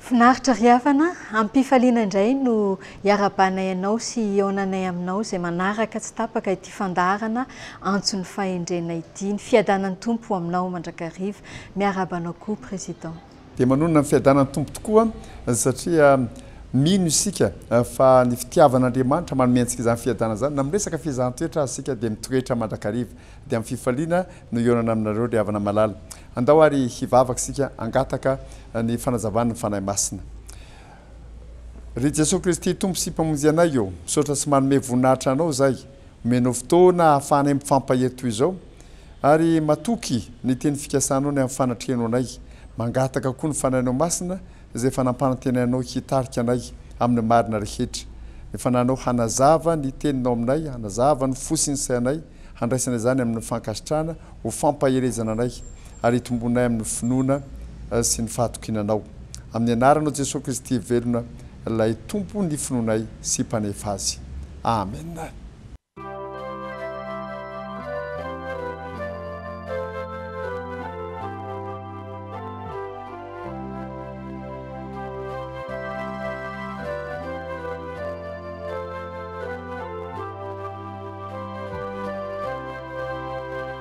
Finaritra ry havana, am-pifaliana indray no iarahabanay anao sy hihaonanay aminao izay manaraka tsy tapaka ity. fandaharana antson'ny fahendrena ity, ny fiadanan'ny Tompo ho aminao mandrakariva, miarahaba anao koa Président. Dia manonona ny fiadanan'ny Tompo tokoa satria mino isika fa ny fitiavan'Andriamanitra manome antsika izany fiadanana izany, na amin'ny resaka fiezahan-toetra aza isika dia mitoetra mandrakariva, dia amin'ny fifaliana no hihaonana aminareo ry havana malala. Andao ary hivavaka isika hangataka ny fanazavan'ny Fanahy Masina. Ry Jesoa Kristy Tompo sy Mpamonjy anay ô, misaotra sy manome voninahitra Anao izahay omenao fotoana ahafahanay mifampahery toy izao ary matoky ny teny fikasanao ny amin'ny fanatrehanao anay, mangataka koa ny Fanahinao Masina izay efa nampanantenainao hitarika anay amin'ny marina rehetra, ny Fanahinao hanazava ny Teninao aminay, hanazava ny fo sy ny sainay, handraisana izany amin'ny fankasitrahana ho fampaherezana anay. ary hitombonay amin'ny finoana sy ny fahatokiana Anao. Amin'ny Anaranao Jesoa Kristy velona, ilay Tompo ny finoanay sy Mpanefa azy. Amena.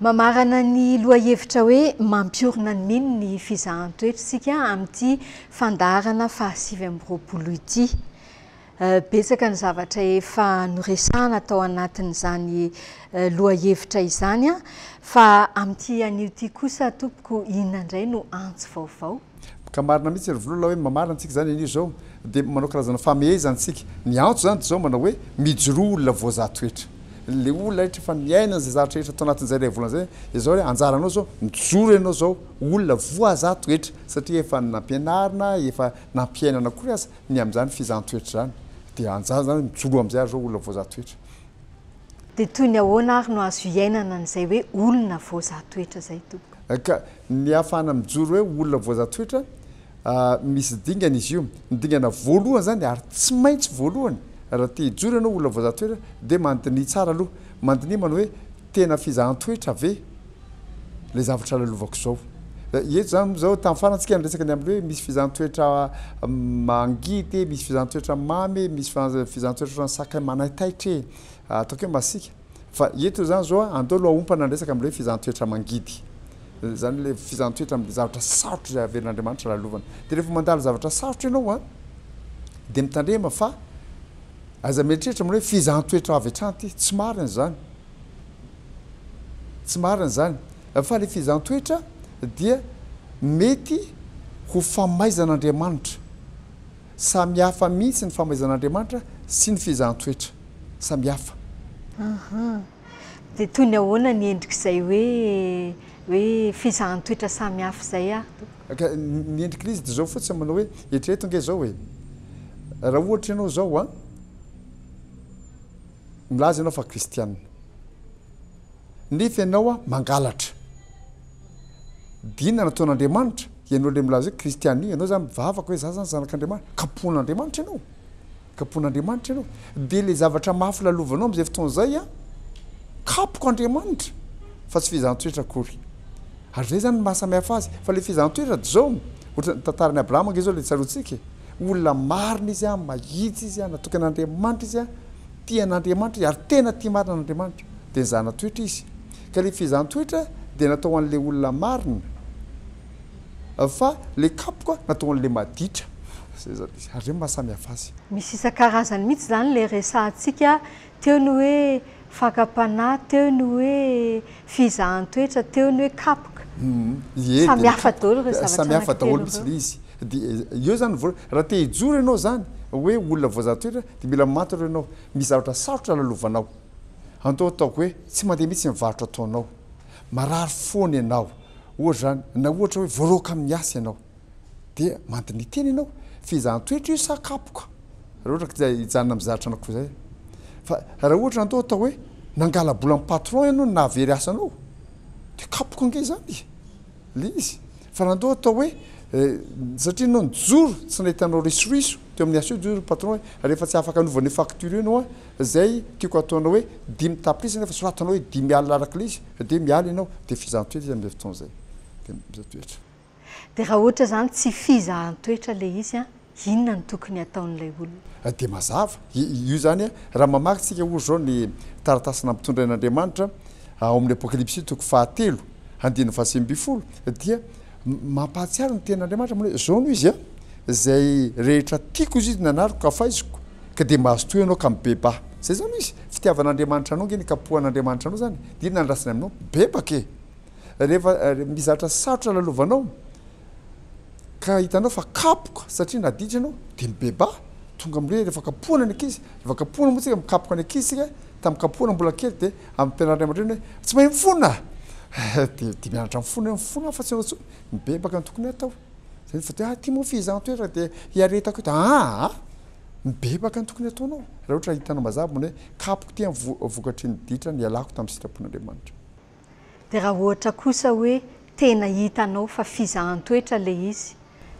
Mamarana ny lohahevitra hoe Mampiorina ny Mino ny Fizahan-toetra isika amin'ity fandaharana fahasivy amby roapolo ity. Betsaka ny zavatra efa noresahana tao anatin'izany lohahevitra izany, fa amin'ity anio ity kosa tompoko inona indray no antso vaovao? Ka marina mihitsy ry Volola hoe mamaly antsika izany anio izao dia manao karazana famehezana antsika. Ny antso izany dia izao manao hoe mijoroa olona voazaha toetra. Ilay olona rehetra efa miaina an'izay zavatra rehetra tao anatin'izay ilay volana izay dia izao hoe anjaranao izao mijoro ianao izao olona voazaha toetra satria efa nampianarina, efa nampiainana akory aza ny amin'izany fizahan-toetra izany. Dia anjara izany hoe mijoroa amin'izay ary izao olona voazaha toetra. Dia toy ny ahoana ary no azo iainana an'izay hoe olona voazaha toetra izay Tompo? Ka ny ahafahana mijoro hoe olona voazatoetra, misy dingana izy io. Ny dingana voalohany izany, ary tsy maintsy voalohany, raha te hijoro ianao ho olona voazatoetra, dia mandiniha tsara aloha. Mandiniha manao hoe, tena fizahan-toetra ve ilay zavatra lalovako izao? Eto izany moa izao, tamin'ny farany tsika niresaka ny amin'ny hoe misy fizahan-toetra mangidy e, misy fizahan-toetra mamy e, misy fizahan-toetra ohatran'ny sakay manaitaitra e, ataoko hoe masiaka. Fa eto izany izao andao aloha haompana ny resaka amin'ilay hoe fizahantsoetra mangidy. Izany ilay fizahantsoetra amin'ilay zavatra sarotra izay averin'Andriamanitra lalovana. Dia rehefa mandalo zavatra sarotra ianao dia mitandrema fa aza mieritreritra amin'ilay hoe fizahantsoetra avy hatrany ity. Tsy marina izany. Tsy marina izany. Fa ilay fizahantsoetra dia mety ho famaizan'Andriamanitra. Samy hafa mihitsy ny famaizan'Andriamanitra sy ny fiezahan-toetra. Samy hafa. Aha. Dia toy ny ahoana ny endrik'izay hoe hoe fiezahan-toetra samy hafa izay ary Tompo? Ka ny endrik'ilay izy dia izao fotsiny, manao hoe, eritrereto ange izao e, raha ohatra ianao izao an, milaza ianao fa kristiana. Nefa ianao mangalatra. Dina nataon'Andriamanitra, ianao ilay milaza hoe kristiana io, ianao zany mivavaka hoe za zany zanak'Andriamanitra, kapohin'Andriamanitra ianao, kapohin'Andriamanitra ianao, dia ilay zavatra mafy lalovanao amin'izay fotoana izay an, kapoka Andriamanitra fa tsy fehezan-toetra akory. Ary izay zany no maha samy hafa azy, fa ilay fehezan-toetra dia zao, ohatra ny tantaran'i Abraham ange zao ilay tsaroantsika e, olona marina izy an, mahitsy izy an, natoky an'Andriamanitra izy an, Tia an'Andriamanitra izy ary tena tia marina an'Andriamanitra dia nizana-toetra izy. Ka ilay fizan-toetra dia natao an'ilay olona marina fa ilay kapoka natao an'ilay maditra. Izay izany izy. Ary izay no mahasamihafa azy. Misy isan-karazany mihitsy izany ilay resahantsika teo ny hoe fakam-panahy, teo ny hoe fizahan-toetra teo ny hoe kapoka. Ie, samy hafa daholo ireo zavatra samy hafa daholo mihitsy ilay izy. Dia eo izany vao, raha te hijoro ianao izany hoe olona voazaha toetra dia mila maty aloha ianao. Misy zavatra sarotra lalovanao. Andao ataoko hoe tsy mandeha mihitsy ny varotra ataonao. Marary foana ianao. Ohatra izany, na ohatra hoe voaroaka amin'ny asa ianao. dia mandiniha tena ianao fizahan-toetra io sa kapoka raha ohatra ka hijanona amin'ny zatra anao koa izay fa raha ohatra anto atao hoe nangala-bola amin'ny patron ianao no nahavery asa anao dia kapoka ange izany ilay izy fa raha anto atao hoe satria ianao nijoro tsy nahita anao risoriso teo amin'ny asa eo dia hoy ny patron hoe ary efa tsy afaka hanova an'io facture io ianao an! izay tiako hataonao hoe dimy tapitrisa nefa soratanao hoe dimy alina arak'ilay izy dia miala ianao dia fizahan-toetra izy amin'izay fotoana izay dia mizaha-toetra De raha ohatra zany tsy fizahan-toetra le izy an, inona no tokony ataon'ilay olona? Dia mazava, io zany an, raha mamaky tsika ohatra zao ny taratasy nampitondrain' Andriamanitra ao amin'ny Apokalypsy toko fahatelo andininy fahasivy ambin'ny folo dia mampahatsiaro ny tenin' Andriamanitra manao hoe zao no izy an, Izay rehetra tiako izy nanariko ka faiziko, ka dia mazotoa ianao ka mibebaa. Zay zany no izy, fitiavan' Andriamanitra anao nge nikapohan' Andriamanitra anao zany, dia iny nandrasany aminao, bebaka e! rehefa mizatra sarotra lalovanao ka hitanao fa kapoka satria naditra ianao dia mibebaha tonga amle rehefa kapohana ny ankizy rehefa kapohana moa tsika mikapoka ny ankizy tsika tamin'ny kapohana mbola kely dia ampianariny aman-dreny hoe tsy mahay mifona dia dia mianatra mifona hoe mifona afa-tsy ianao intsony mibebaka ny tokony hatao zany fa dia aty moa f'iza no toerana dia hiaretako eto aa mibebaka ny tokony hataonao raha ohatra hitanao mazava mbola hoe kapoka ity vokatry ny ditra nialako tamin'ny sitrapon'Andriamanitra Dia raha ohatra kosa hoe tena hitanao fa fizahan-toetra ilay izy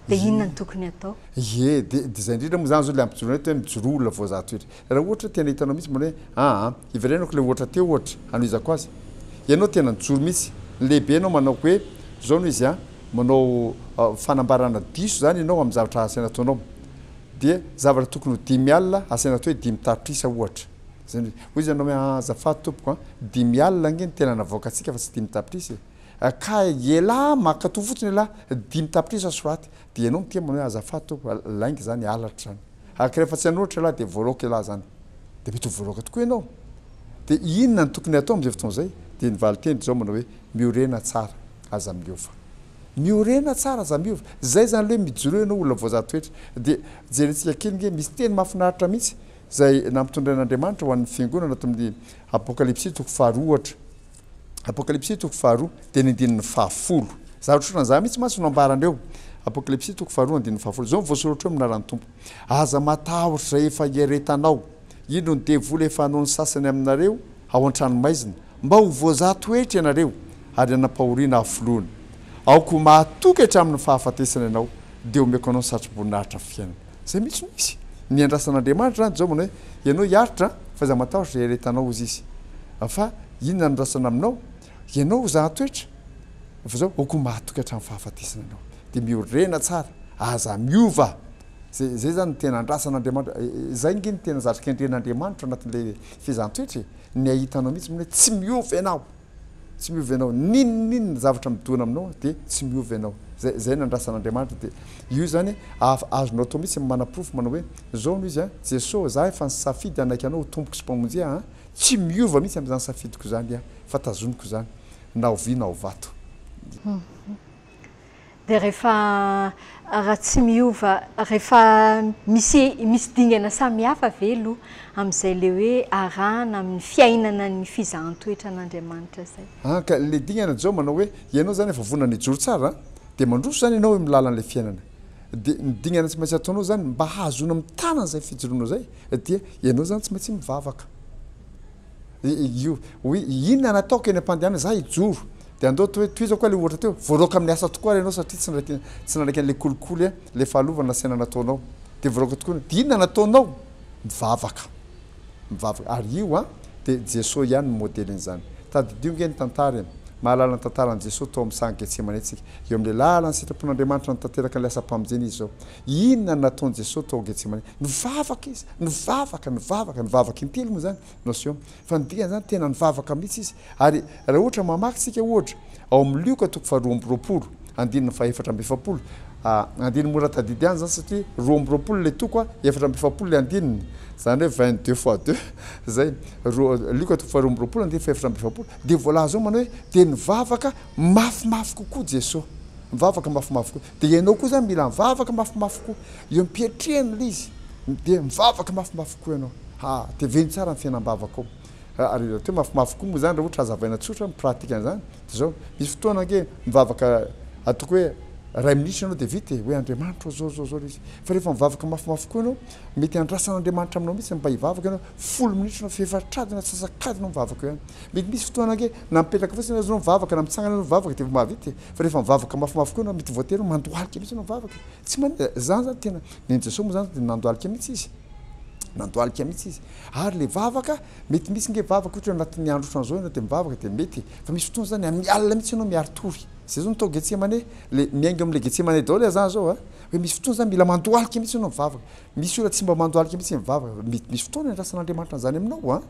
dia inona no tokony atao? Ie, dia izay indrindra moa izany izao ilay ampijoroana eto hoe mijoroa olona voazaha toetra. Raha ohatra hoe tena hitanao mihitsy mbola hoe aa, hivelainako ilay ohatra teo ohatra hanohizako azy. Ianao tena nijoro mihitsy, ny lehibenao manao hoe izao no izy an, manao fanambarana diso izany ianao amin'ny zavatra asaina ataonao. Dia zavatra tokony ho dimy alina asaina atao hoe dimy tapitrisa ohatra. Zandry, hoy izy aminao hoe, aa azafady tompoko an, dimy alina ange ny tena navoakantsika fa tsy dimy tapitrisa e! ka ialahy mankatoa fotsiny ialahy, dimy tapitrisa soraty, dia ianao miteny manao hoe azafady tompoko, lainga izany, halatra izany, ary ka rehefa tsy hanoratra ialahy dia voaloaka ialahy izany, dia mety ho voaloaka tokoa ianao, dia inona no tokony hatao amin'izay fotoana izay? dia ny valinteny ry zao manao hoe, miorena tsara, aza miova. Miorena tsara, aza miova, izay izany aloha hoe mijoroa ianao olona voajanahary toetra, dia jerentsika kely ange, misy teny mahafinaritra mihitsy, Izay nampitondrain'Andriamanitra ho an'ny Fiangonana ato amin'ny Apokalypsy toko faharoa ohatra, Apokalypsy toko faharoa dia ny andininy fahafolo. Zavatra ohatran'ny izany mihitsy mantsy no ambarany eo, Apokalypsy toko faharoa andininy fahafolo. Izao no voasoratra eo amin'ny anaran'ny Tompo, Aza matahotra izay efa hiaretanao, indro ny devoly efa hanao ny sasany aminareo ao an-tranomaizina, mba ho voazaha toetra ianareo ary hanam-pahoriana hafoloany. Aoka ho mahatoky hatramin'ny fahafatesana ianao, dia omeko anao ny satroboninahitra fiainana. Zay mihitsy no izy. Niandrasan'Andriamanitra zany Joba ny hoe, ianao hiaritra an, f'aiza matahotra zay iaretanao hozy izy. Fa inona no andrasana aminao? Ianao ho zaha toetra, fa zao ho koa mahatoky hatramin'ny fahafatesana ianao. Dia miorena tsara, aza miova. Zay zay zany no tena andrasan'Andriamanitra. Zay nge no tena zatra kendren'Andriamanitra anatin'ilay fiezan-toetra e. Ny ahitanao mihitsy mino hoe tsy miova ianao. Tsy miova ianao, n'inon'inona zavatra midona aminao dia tsy miova ianao. Zay, zay nandrasan'Andriamanitra dia io zany af, azonao atao mihitsy ny manaporofo manao hoe, zao no izy an, Jeso ô, za efa nisafidy hanaiky anao ho Tompoko sy Mpamonjy ahy an, tsy miova mihitsy amin'izany safidiko izany aho, fa tazoniko izany, na ovia na ovato. dia rehefa raha tsy miova rehefa misy misy dingana samihafa ve aloha amin'izay ilay hoe arahana amin'ny fiainana ny fizahan-toetra an'Andriamanitra izay? An, ka ilay dingana izao manao hoe ianao izany efa vonona ny hijoro tsara an, dia mandroso izany ianao eo amin'ny lalan'ilay fiainana, dia ny dingana tsy maintsy ataonao izany mba hahazoana mitana an'izay fijoroanao izay dia ianao izany tsy maintsy mivavaka. Io oui inona nataoko eny ampandehanana za hijoro de andoto hoe tohizo koa le ohatra teo voaroaka amin'ny asa tokoa ary ianao satria tsy ndraiky tsy nanaiky an'le kolikoly a le fahalovana nasaina nataonao de voaroaka tokoa ny de inona nataonao mivavaka mivavaka ary io a de Jesoa ihany no modelin'izany tadidio nge ny tantara e mahalala ny tantaran'i Jesoa tao amin'ny saha Getsemane tsika eo amin'le lalan'ny sitrapon'Andriamanitra nitateraka an'le asam-pamonjena izy zao Inona no nataon'i Jesosy tao Getsemane? Nivavaka izy, nivavaka, nivavaka, nivavaka intelo moa izany no aseho aminy. Fa ny dikany izany, tena nivavaka mihitsy izy. Ary raha ohatra mamaky isika ohatra ao amin'ny Lioka toko faharoa amby roapolo, andininy fahefatra amby efapolo, andininy mora tadidy ihany izany satria roa amby roapolo ilay toko, efatra amby efapolo ilay andininy, izany hoe vingt deux fois deux izay, roa, Lioka toko faharoa amby roapolo, andininy fahefatra amby efapolo, dia voalaza ao manao hoe, dia nivavaka mafimafy kokoa Jesosy. Nivavaka mafimafy kokoa. Dia ianao koa izany mila mivavaka mafimafy koa. Eo am-piatrehana ilay izy, dia mivavaka mafimafy koa ianao. Ha, teveno tsara ny fiainam-bavakao. Ary raha teo mafimafy koa moa izany, raha ohatra hazavaina tsotra ny pratika an'izany, dia izao, misy fotoana ange mivavaka ataoko hoe iray minitra ianao dia vita e, hoe Andriamanitra ô, izao, izao, izao ilay izy. Fa rehefa mivavaka mafimafy koa ianao, mety handrasan'Andriamanitra aminao mihitsy ny mba hivavaka ianao, folo minitra ianao, fefatra-adiny na antsasak'adiny ianao mivavaka eo ihany. Mety misy fotoana ange na mipetraka fotsiny aza ianao mivavaka, na mitsangana ianao mivavaka dia vao mahavita e. Fa rehefa mivavaka mafimafy koa ianao mety voatery mandohalika mihitsy ianao mivavaka e. Tsy manin, zany zany tena, nen'i Jesoa moa zany dia nandohalika mihitsy Izy. Nandohalika mihitsy Izy. Ary le vavaka, mety misy nge vavaka ohatra hoe anatin'ny andro ohatran'izao ianao dia mivavaka dia mety e. Fa misy fotoana zany amin'ny alina mihitsy ianao miari-tory. Zay zao no tao Getsemane, le miainga amin'ilay Getsemane daholo le zany zao a. Hoe misy fotoana zany mila mandohalika mihitsy ianao mivavaka. Misy olona tsy mba mandohalika mihitsy mivavaka. Mety misy fotoana iandrasan'Andriamanitra an'izany aminao a.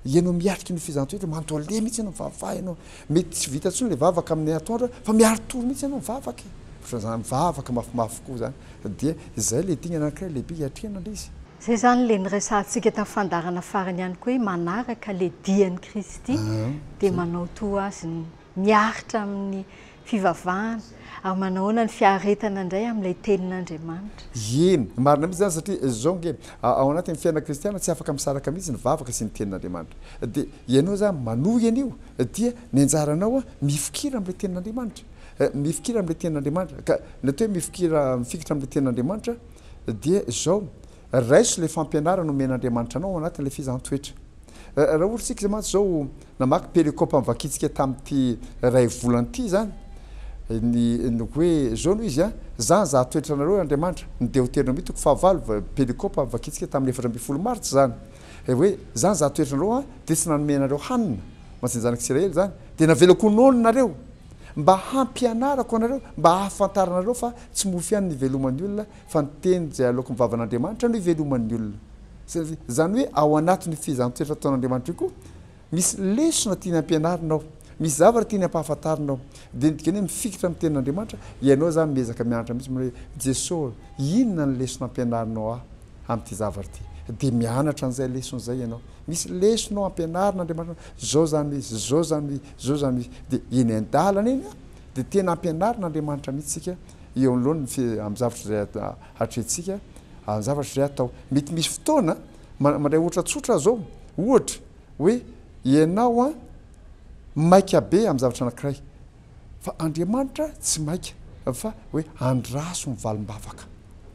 Ianao miatrika ny fizan-toetra, mandole mihitsy ianao mivavaha ianao. Mety tsy vita intsony ilay vavaka amin'ny atoandro fa miaro tory mihitsy ianao mivavaka e! Ohatran'izany mivavaka mafimafy koa izany fa dia izay ilay dingana anankiray lehibe iatrehana ilay izy. Izay izany ilay niresahantsika tamin'ny fandaharana farany ihany koa hoe manaraka ilay dian'i Kristy dia manao toa Azy ny miaritra amin'ny fivavahana ary manahoana ny fiaretana indray amin'ilay Tenin'Andriamanitra. Eny, marina mihitsy izany satria izao ange, ao anatin'ny fiainana kristiana tsy afaka misaraka mihitsy ny vavaka sy ny Tenin'Andriamanitra. Dia ianao izany manohy an'io dia ny anjaranao mifikira amin'ilay Tenin'Andriamanitra. Mifikira amin'ilay Tenin'Andriamanitra. Ka ny atao hoe mifikira, mifikitra amin'ilay Tenin'Andriamanitra dia izao. Raiso ilay fampianarana omen'Andriamanitra anao ao anatin'ilay fizaham-toetra. Raha ohatra isika izay mantsy izao namaky pericope an'i Vakitsika tamin'ity iray volana ity izany, ny ny hoe izao no izy a, Za nizaha toetra anareo ry Andriamanitra, ny Deoteronomia toko fahavalo, va, pericope an'i Vakitsika tamin'ny efatra ambin'ny folo martsa izany. Dia hoe, Za nizaha toetra anareo a, dia tsy nanome anareo hanina, ho antsika zanak'i Isiraely izany, dia navelako ho noana nareo, mba hampianarako anareo, mba hahafantaranareo fa tsy mofo ihany no iveloman'ny olona, Fa ny teny izay aloaky ny vavan'Andriamanitra no iveloman'ny olona. Izany hoe ao anatin'io fehezan-toetra ataon'Andriamanitra io koa misy lesona tiany ampianarina ao, misy zavatra tiany ampahafantarina ao. Dia ny dikany hoe mifikitra amin'ny tenin'Andriamanitra, ianao izany miezaka mianatra mihitsy manao hoe, Jeso ô, inona ny lesona ampianarinao ahy amin'ity zavatra ity? Dia mianatra an'izay lesona izay ianao. Misy lesona ao ampianarin'Andriamanitra anao, izao izany hoe izy, izao izany hoe izy, izao izany hoe izy. Dia eny an-dalana eny, Dia tena ampianarin'Andriamanitra mihitsy isika eo anoloany amin'ny zavatra izay hatrehintsika, amin'ny zavatra izay atao. Mety misy fotoana, mandray ohatra tsotra aho izao, ohatra hoe ianao maika be amin'ny zavatra anankiray, fa Andriamanitra tsy maika fa hoe andraso ny valim-bavaka.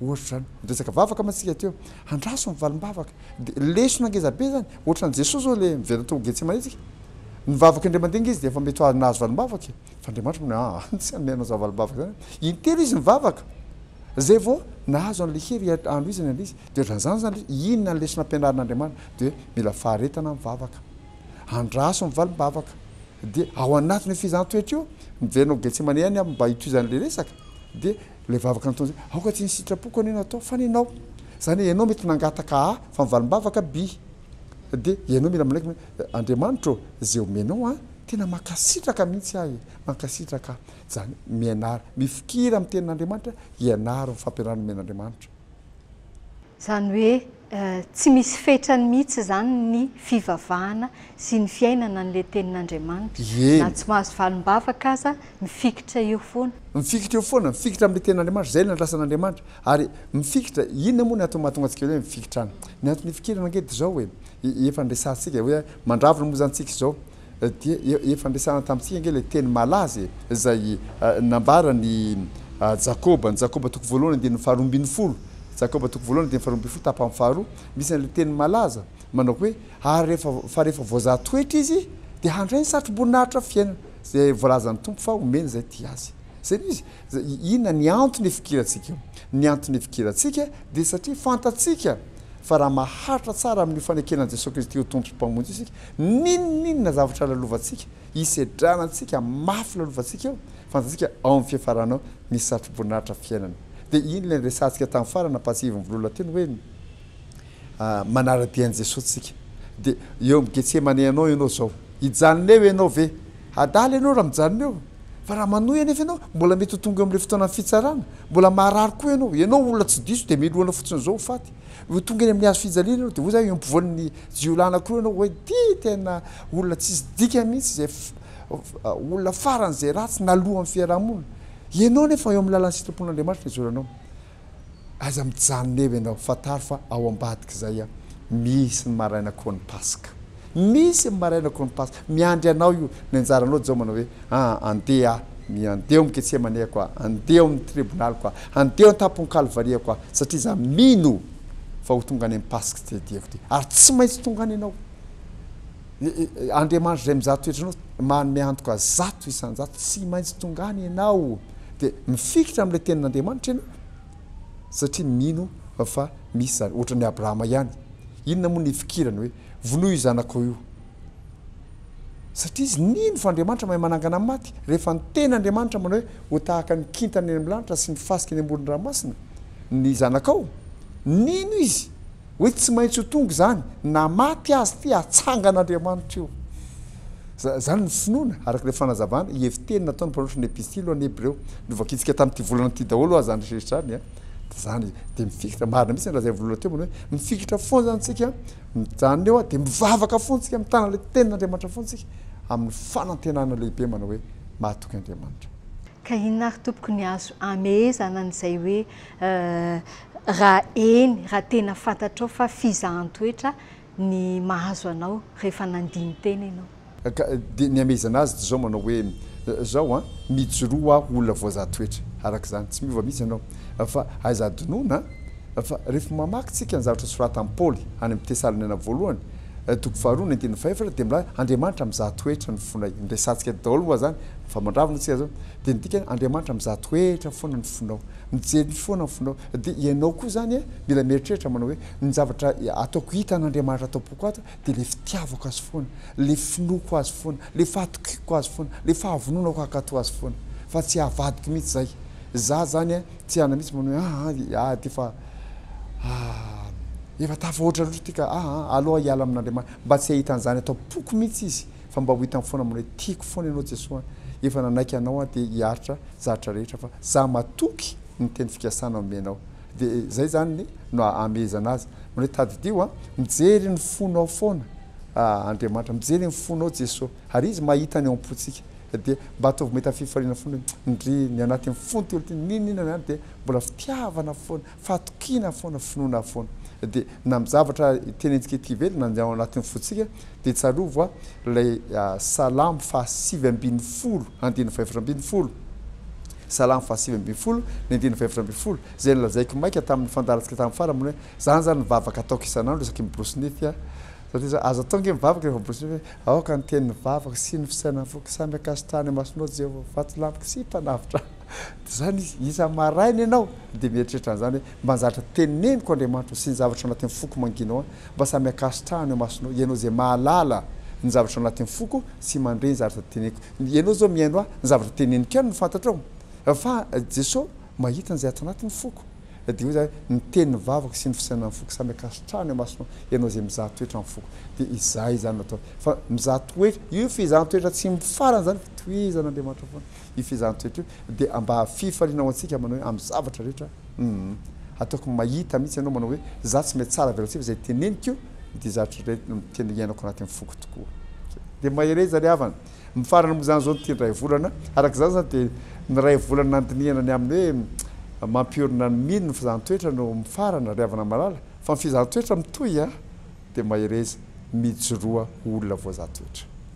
ohatra izany niresaka vavaka mantsy isika teo, andraso ny valim-bavaka, dia lesona ngeza be izany, ohatran'i Jesoa izao ilay miverina tao Getsemane isika, nivavaka indray mandeha nge izy dia efa mety ho nahazo valim-bavaka e, fa Andriamanitra manao hoe aa tsy hanome anao izany valim-bavaka izany aho, intelo izy nivavaka izay vao nahazo an'ilay hery hanohizana ilay izy, dia ohatran'izany izany, inona ny lesona ampianarin'Andriamanitra, dia hoe mila faharetana mivavaka, andraso ny valim-bavaka, dia ao anatin'io fihezaham-toetra io, miverina ao Getsemane ihany aho mba hitohizan'ilay resaka, Dia ilay vavaka nataony izay, aoka tsy ny sitrapoko anie no atao fa ny anao. Izany hoe ianao mety nangataka A fa mivalim-bavaka B. Dia ianao mila manaiky hoe, Andriamanitra ô, izay omenao an, tena mankasitraka mihitsy aho e, mankasitraka aho. Izany mianara, mifikira amin'ny tenin'Andriamanitra, ianaro ny fampianarana omen'Andriamanitra. Izany hoe Tsy misy fetrany mihitsy izany ny fivavahana sy ny fiainana an'ilay Tenin'Andriamanitra. Na tsy mahazo valim-bavaka aza, mifikitra eo foana. Mifikitra eo foana, mifikitra amin'ilay Tenin'Andriamanitra, izay no andrasan'Andriamanitra. Ary mifikitra, inona moa ny antony mahatonga antsika hoe mifikitra any? Ny antony ifikirana ange dia izao e, efa niresahantsika hoe mandravona moa izany tsika izao, dia efa ampiasana tamintsika ange ilay teny malaza e, izay nambaran'i Jakoba, ny Jakoba toko voalohany andininy faharoa ambin'ny folo, Jakoba toko voalohany andininy faharoa ambin'ny folo tapany faharoa, misy an'ilay teny malaza manao hoe, ary rehefa, fa rehefa voazaha toetra izy dia handray ny satroboninahitra fiainana, izay voalazan'ny Tompo fa homeny izay tia Azy. Izay no izy. Inona ny antony ifikirantsika eo? Ny antony ifikirantsika dia satria fantatsika fa raha maharitra tsara amin'io fanekena an'i Jesoa Kristy ho Tompo sy Mpamonjy isika, N'inon'inona zavatra lalovantsika, hisedrana antsika mafy lalovantsika eo, fantatsika ao amin'ny fiafarana ao misy satroboninahitra fiainana. Dia iny ilay niresahantsika tamin'ny farany nampahatsiahivin'i Volola teny hoe, manara-dia an'i Jesoa tsika. Dia eo amin'ny Getsemane anao ianao izao. Hijanona eo ianao ve? Adala ianao raha mijanona eo. Fa raha manohy anefa ianao, mbola mety ho tonga eo amin'ilay fotoanan'ny fitsarana. Mbola maharary koa ianao. Ianao olona tsy diso dia melohina fotsiny izao ho faty. Vao tonga eny amin'ny hazo fijaliana ianao dia hoy izaho eo ampovoan'ny jiolahina koa ianao hoe ty tena olona tsisy dikany mihitsy izay olona faran'izay ratsy naloan'ny fiarahamonina. Ianao anefa eo amin'ny lalan'ny sitrapon'Andriamanitra no ijoranao. Aiza mijanona eo ianao? Fantaro fa ao ambadik'izay aho. Misy ny maraina koa ny Paska. Misy ny maraina koa ny Paska. Miandry anao io. Ny anjaranao Jao manao hoe, aa andeha aho, mi, andeha ao amin'ny Getsemaneko aho, andeha ao amin'ny tribonaliko aho, andeha ao an-tampon'ny Kalvariako aho, satria za mino fa ho tonga any amin'ny Paska tsy tediaviko ity. Ary tsy maintsy tonga any ianao. Ny, Andriamanitra izay mizaha toetra anao, manome antoka zato isan-jato, tsy maintsy tonga any ianao. Dia mifikitra amin'ilay Tenin'Andriamanitra ianao, satria mino fa misy izany. Ohatran'i Abrahama ihany. Inona moa ny ifikirany hoe, Vonoy io zanakao io. Satria izy nino fa Andriamanitra mahay manangana ny maty. Rehefa ny tena Andriamanitra manao hoe, Ho tahaka ny kintana eny amin'ny lanitra sy ny fasika eny amoron-dranomasina ny zanakao, nino izy hoe tsy maintsy ho tonga izany, na maty aza ity, hatsangan'Andriamanitra io. Izany ny finoana, araka ilay fanazavana, hevi-teny nataon'ny mpanoratra ny Epistily ho an'ny Hebreo. Novakitsika tamin'ity volana ity daholo ho'a izany rehetra izany. de zany izy de mifikitra marina mitsy ny lazain'i vololona teo manao hoe mifikitra foana zany tsika mijanona eo de mivavaka foana tsika mitana le tenin'Andriamanitra foana tsika amin'ny fanantenana lehibe manao hoe mahatoky Andriamanitra. Ka inona ary tompoko ny azo amehezana an'izay hoe raha eny raha tena fantatrao fa fizahan-toetra ny mahazo anao rehefa nandini-tena ianao. Ka dia nihamehezana azy toy izao manao hoe, Izao an, mijoroa ho aho olona voazaha toetra, araka izany, tsy miova mihitsy ianao. Fa aiza adinoana an? Fa rehefa mamaky isika ny zavatra soratan'i Paoly any amin'ny Tesaloniana Voalohany, toko faharoa ny andininy fahefatra, dia milaza, Andriamanitra mizaha toetra ny fonay. Noresahantsika daholo moa izany, fa mandravona isika izao. Dia ny dikany, Andriamanitra mizaha toetra foana ny fonao. Mijery foana ny fonao. Dia ianao koa izany mila mieritreritra manao hoe, Ny zavatra ataoko hita an'Andriamanitra ato am-poko ato dia ilay fitiavako Azy foana, ilay finoako Azy foana, ilay fahatokiako Azy foana, ilay fahavononako hankatò Azy foana. Fa tsy havadiko mihitsy izay. Izaho izany an, tsy hiala mihitsy manao hoe aa an, aa ity efa efa tafahoatra loatra ity ka, aa an, aleo aho hiala amin'Andriamanitra. Mba tsy hahita an'izany ato am-poko mihitsy Izy, fa mba ho hitany foana manao hoe tiako foana Ianao Jesoa an, efa nanaiky Anao aho dia hiaritra zavatra rehetra fa izaho matoky ny teny fikasana omenao. Dia izay izany no hahamehezana azy. Manao hoe, Tadidio a, mijery ny fonao foana Andriamanitra, mijery ny fonao Jesoa, ary Izy mahita ny ao am-pontsika. Dia mba ataovy mahita fifaliana foana hoe, Ndrii, ny anatin'ny fony telo ity, n'inon'inona na inona, dia mbola fitiavana foana, fahatokiana foana, finoana foana. Dia. na amin'ny zavatra tenentsika ety ivelany na ao anatin'ny fontsika dia tsarovy hoa ilay salamo fahasivy ambin'ny folo andininy fahefatra ambin'ny folo salamo fahasivy ambin'ny folo ny andininy fahefatra ambin'ny folo izay nolazaiko maika tamin'ny fandaharantsika tamin'ny farany hoe zany zany ny vavaka ataoko isan'andro isaky ny borosy nify a satria za azo atao nge mivavaka rehefa borosy nify hoe aoka ny tenin'ny vavako sy ny fisainan'ny foko samy akasitrahany imasonao Jehovah vato lampiko sy mpanavotra Dia izany izy. Isa-maraina ianao dia mieritreritra an'izany hoe, Mba zatra teneniko Andriamanitra ô, sy ny zavatra anatin'ny foko mangina ao, mba samy ankasitrahana eo imasonao, Ianao izay mahalala ny zavatra anatin'ny foko sy mandre ny zavatra teneniko. Ianao izao mihaino ahy, ny zavatra teneniko ihany no fantatrao, fa Jesoa mahita an'izay ato anatin'ny foko. Dia hoy Izaho, Ny tenin'ny vavako sy ny fisainan'ny foko samy ankasitrahana eo imasonao, Ianao izay mizaha toetra amin'ny foko. Dia izay izany no ataony. Fa mizaha toetra, io fizahan-toetra tsy mifarana izany, fitohizan'Andriamanitra foana. io fehezan-toetra io dia mba fifaliana ho antsika manao hoe amin'ny zavatra rehetra uhm ataoko mahita mihitsy ianao manao hoe za tsy mahay tsara velatsihy fa izay teneniko dia zavatra iray tena iainako anaty amin'ny foko tokoa dia mahereza ry havana mifarana moa izany izao ny tian'ny raivolana araka izany izany dia ny raivolana nandinihana ny amin'ny hoe mampiorina ny mino ny fehezan-toetra no mifarana ry havana malala fa ny fehezan-toetra mitohy an dia mahereza mijoroa ho olona voazaha-toetra.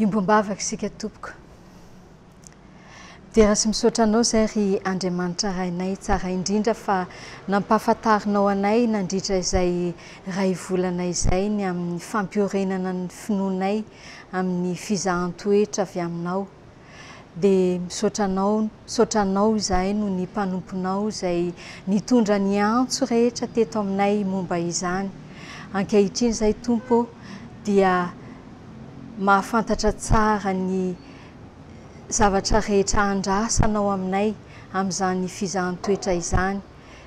Iombom-bavaka isika tompoko. Dera sy misaotra anao izay ry Andriamanitra Rainay tsara indrindra fa nampahafantarinao anay nandritra izay iray volana izay ny amin'ny fampiorenana ny finoanay amin'ny fizahan-toetra avy aminao dia misaotra anao misaotra anao izahay noho ny mpanomponao izay nitondra ny antso rehetra teto aminay momba izany ankehitriny izay tompo dia mahafantatra tsara ny zavatra rehetra andrasanao aminay amin'izany fizahan-toetra izany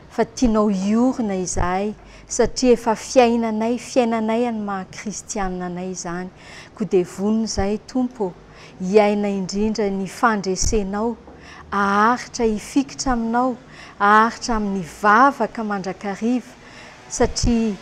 fa tianao hiorina izahay satria efa fiainanay fiainanay an'ny maha kristianina anay izany koa dia vonona izahay Tompo ô hiaina indrindra ny fandresenao aharitra hifikitra aminao aharitra amin'ny vavaka mandrakariva satria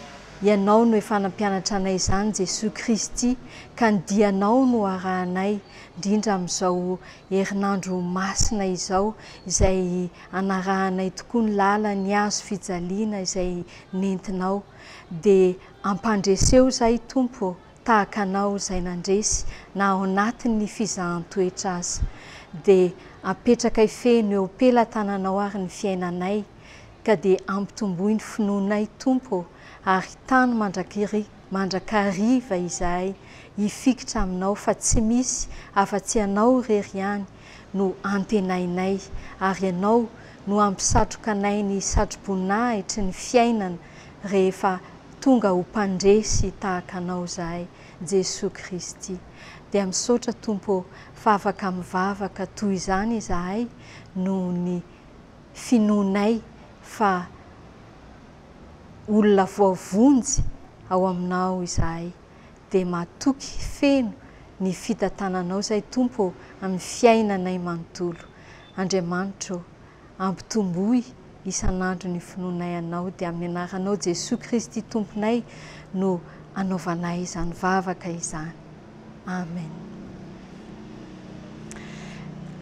ianao no efa nampianatra anay izany Jesoa Kristy ka ny dianao no arahanay indrindra amin'izao herinandro masina izao izay hanarahanay tokoa ny lalan' ny hazo fijaliana izay nentinao, dia ampandreseho izahay, Tompo ô, tahaka Anao izay nandresy, na ao anatin' ny fizahan-toetra aza. Dia apetrakay feno eo am-pelatananao ary ny fiainanay, ka dia ampitomboy ny finoanay, Tompo ô, ary tano mandrakri mandrakariva izahay hifikitra Aminao, fa tsy misy afa-tsy Ianao irery ihany no antenainay, ary Ianao no hampisatroka anay ny satro-boninahitry ny fiainana rehefa tonga ho mpandresy tahaka Anao izahay, Jesoa Kristy. Dia misaotra, Tompo ô, fa afaka mivavaka toy izany izahay noho ny finoanay fa olona voavonjy ao Aminao izahay. dia matoky feno ny fitantananao izay Tompo ô amin'ny fiainanay manontolo. Andriamanitra ô, ampitomboy isan'andro ny finoanay Anao dia amin'ny anaranao Jesoa Kristy Tomponay no anaovanay izany vavaka izany. Amen.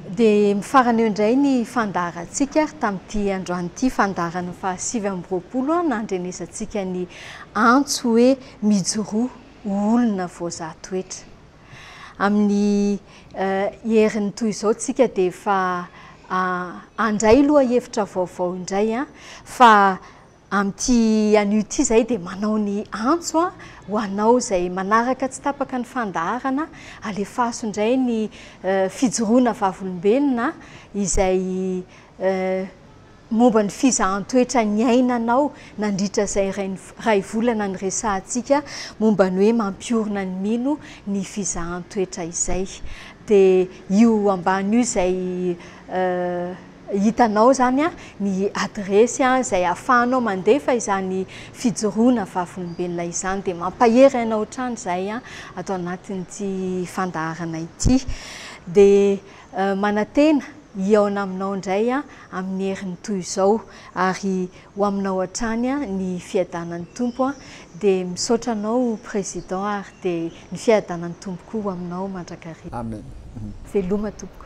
Dia mifarana eo indray ny fandaharantsika ary tamin'ity androany ity fandaharana fahasivy amby roapolo an, nandrenesantsika ny antso hoe Mijoroa ho olona voazaha toetra. Amin'ny heriny toy izao tsika dia efa handray lohahevitra vaovao indray fa amin'ity anio ity zahay dia manao ny antso ho anao izay manaraka tsy tapaka ny fandaharana alefaso indray ny fijoroana vavolombelona izay Momba ny fizahan-toetra niainanao nandritra izay iray volana niresahantsika momba ny hoe mampiorina ny mino ny fizahan-toetra izay. Dia io ambany io izay hitanao izany ny adiresy izay ahafahanao mandefa izany fijoroana vavolombelona izany. Dia mampahery aina ohatrany izay ato anatin'ity fandaharana ity. Dia. Manantena hihaona aminao indray aho amin'ny heriny toy izao ary ho aminao hatrany ny fiadanan'ny Tompo an! dia misaotra anao Président ary dia ny fiadanan'ny Tompo koa ho aminao mandrakariva. Amen. Veloma tompoko.